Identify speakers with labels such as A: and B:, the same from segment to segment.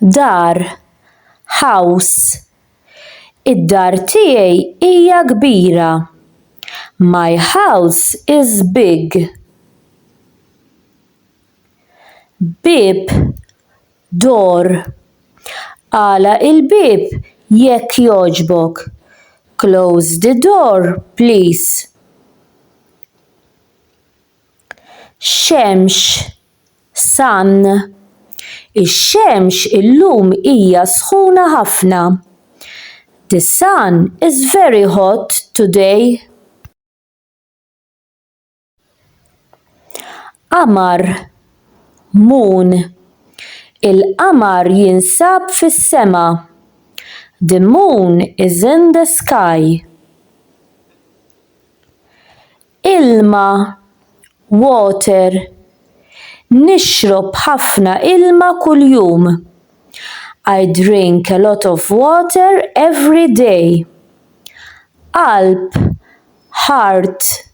A: dar, house. Id-dar tiegħi hija kbira. My house is big. Bieb, Door. Agħlaq il-bieb jekk jogħġbok. Close the door, please. Xemx. Sun. Ix-xemx illum hija sħuna ħafna. The sun is very hot today. Qamar, Moon, Il-qamar jinsab fis-sema. The moon is in the sky. Ilma, Water, Nixrob ħafna ilma kuljum. I drink a lot of water every day. Qalb, Heart,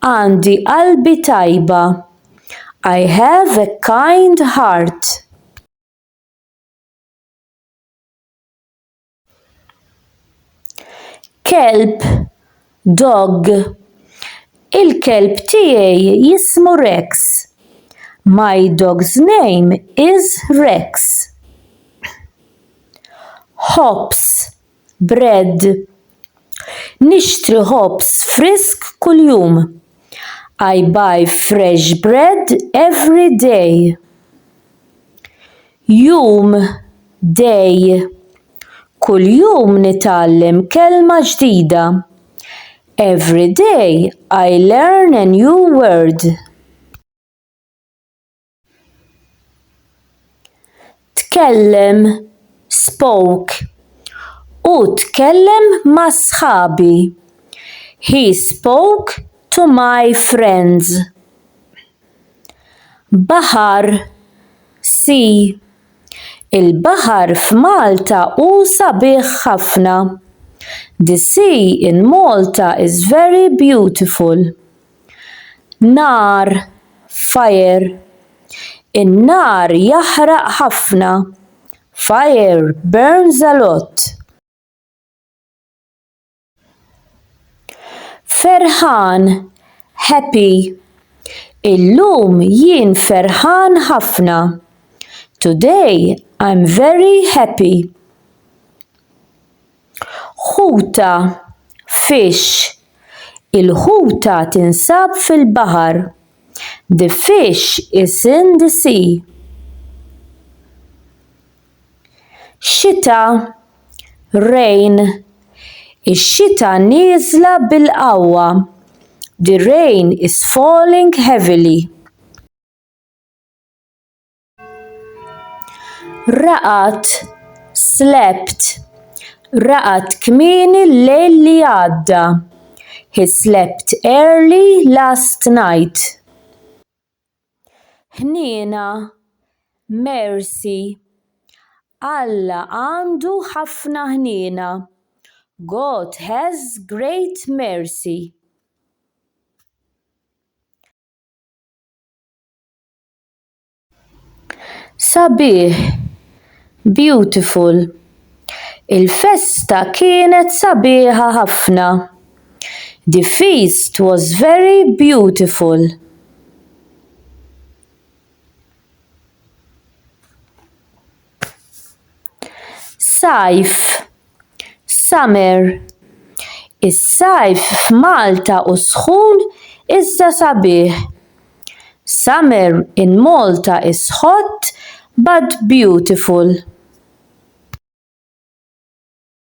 A: Għandi qalbi tajba. I have a kind heart. Kelb, dog. Il-kelb tiegħi jismu Rex. My dog's name is Rex. Hops. bread. Nixtri ħobż frisk kuljum. I buy fresh bread every day. Jum, day. Kuljum nitgħallem kelma ġdida. Every day I learn a new word. tkellem, spoke, Hu tkellem ma' sħabi. He spoke to my friends. Baħar, sea, Il-baħar f'Malta hu sabiħ ħafna. The sea in Malta is very beautiful. nar, fire, in-nar jaħraq ħafna, fire burns a lot. ferħan, happy, illum jien ferħan ħafna, today I'm very happy. Ħuta, fish, Il-ħuta tinsab fil-baħar. The fish is in the sea. Xita, rain, Ix-xita nieżla bil-qawwa. The rain is falling heavily. Raqat, slept. Raqat kmieni l-lejl li għadda. He slept early last night. Ħniena, mercy. Alla għandu ħafna ħniena. God has great mercy. Sabiħ! Beautiful! Il-festa kienet sabiħa ħafna. The feast was very beautiful. Sajf, summer, Is-sajf f'Malta hu sħun iżda sabiħ. Summer in Malta is hot but beautiful.